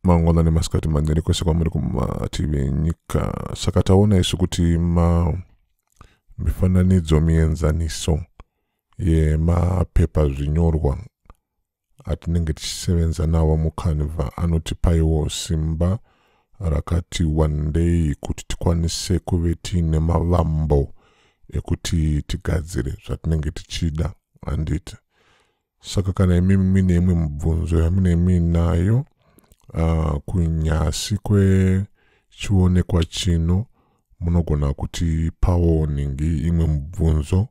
mangwana nemasikati manjani kwese kwamuri kumativi enyika saka taona isu kuti ma mifananidzo mienzaniso yemapepa zvinyorwa atinenge tichisevenza nawo mucanva anotipaiwo simba rakati wandei kuti tikwanise kuve tiine mavambo ekuti tigadzire zvatinenge tichida handiti saka kana imi mine imwe mibvunzo yamine miinayo uh, kunyasi kwechionekwa chino munogona kuti pawoningi imwe mibvunzo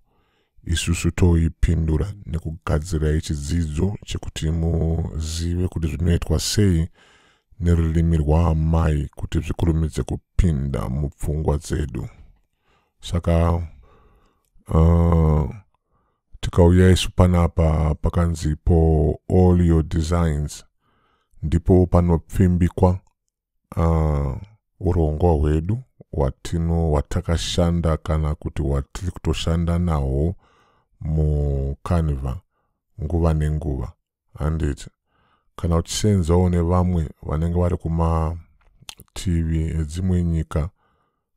isusu toipindura nekugadzirai chidzidzo chekuti muzive kuti zvinoitwa sei nerurimi rwaamai kuti zvikurumidze kupinda mupfungwa dzedu saka uh, tikauya isu panapa pakanzi po all your designs ndipo panopfimbikwa uh, urongwa hwedu watino watakashanda kana kuti watiri kutoshanda nahwo mucanva nguva nenguva handiti kana uchiseenzawo nevamwe vanenge vari kumativi edzimwe nyika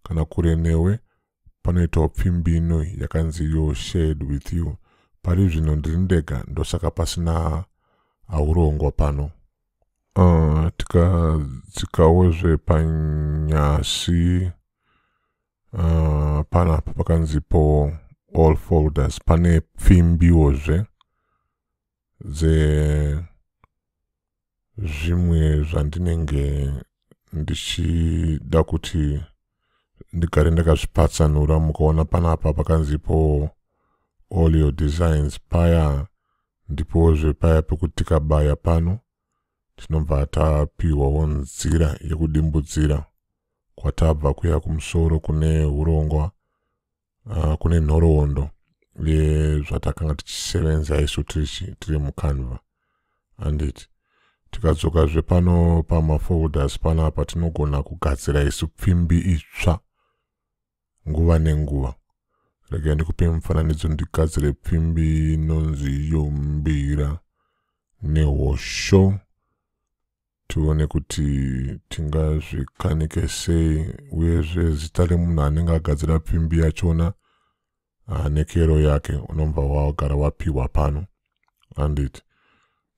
kana kure newe panoitawo pfimbino yakanzi yo shared with you pari zvino ndiri ndega ndosaka pasina aurongwa pano uh, tikadzikawo tika zvepanyasi uh, panapa pakanzipo all folders pane pfimbiwo zve dze zvimwe zvandinenge ndichida kuti ndigare ndakazvipatsanura mukaona panapa pakanzipo all your designs paya ndipozve paya pekuti tikabaya pano tinobva tapiwawo nzira yekudimbudzira kwatabva kuya kumusoro kune urongwa uh, kune nhoroondo yezvatakanga tichisevenza isu tiri mucanva anditi tikadzokazve pano pamafolders panapa tinogona kugadzira isu pfimbi itsva nguva nenguva regai ndikupe mufananidzo ndigadzire pfimbi inonzi yombira nehosho tione kuti tingazvikanike sei uyezve zita remunhu anenge agadzira pfimbi yachona uh, nekero yake unobva wagara wapiwa pano andit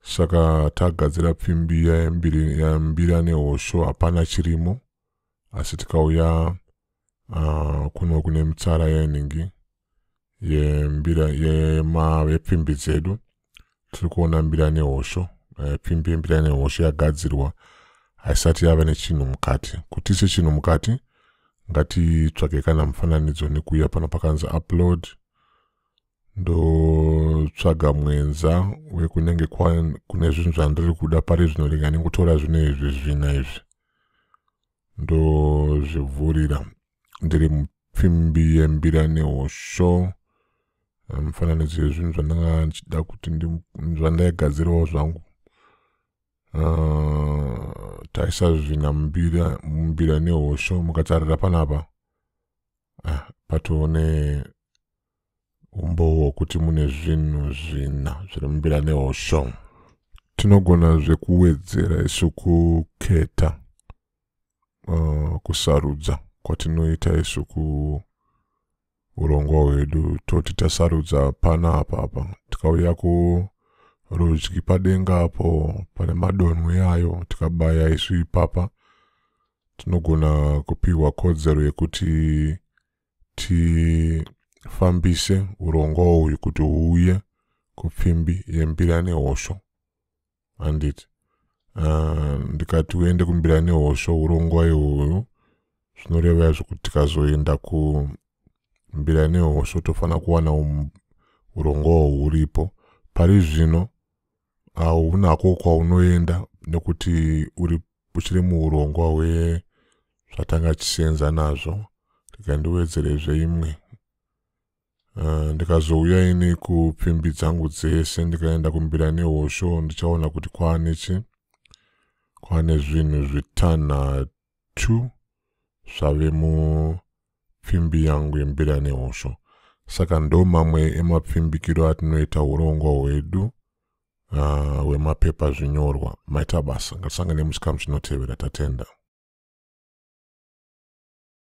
saka tagadzira pfimbi yambira nehosho hapana chirimo asi tikauya uh, kuno kune mitsara yenhingi yembira yemavepfimbi dzedu tiri kuona mbira nehosho eh, pimbi yembira nehosho yagadzirwa haisati yava nechinhu mukati kuti ise chinhu mukati ngatitsvage kana mufananidzo nekuuya pano pakanzi upload ndotsvaga mwenza wekunenge kune zvinhu zvandiri kuda pari zvino ringa ndingotora zvino izvi zvina izvi ndozvivhurira ndiri mupfimbi yembira nehosho mifananidzo yezvinhu zvandanga ndichida kuti zvandaigadzirawo zvangu ah, taisazvina mumbira nehosho mukatarira panapa ah, patone umbowo hwokuti mune zvinhu zvina zviri mumbira nehosho tinogona zvekuwedzera isu kuketa uh, kusarudza kwatinoita isu kuurongwa hwedu toti tasarudza pana apa apa tikauya kurudyi padenga apo pane madonho yayo tikabaya isu ipapa tinogona kupiwa kodzero yekuti tifambise urongwa uyu kuti huuye kupfimbi yembira nehosho handiti ah, ndikati uende kumbira nehosho hurongwa ihoyo zvinoreva izvo kuti tikazoenda kumbira nehosho tofanira kuwana um, urongwawo huripo pari zvino haunako kwaunoenda nekuti uri uchiri muurongwa hwezvatanga tichisenza nazvo rega ndiwedzerezve imwe Eh, ndikazouya ini kupfimbi dzangu dzese ndikaenda kumbira nehosho ndichaona kuti kwane chi kwane zvinhu zvitanhatu zvave mupfimbi yangu yembira nehosho saka ndo mamwe emapfimbikiro atinoita urongwa hwedu ah, hwemapepa uh, zvinyorwa maita basa ngatisangane muchikamu chinotevera tatenda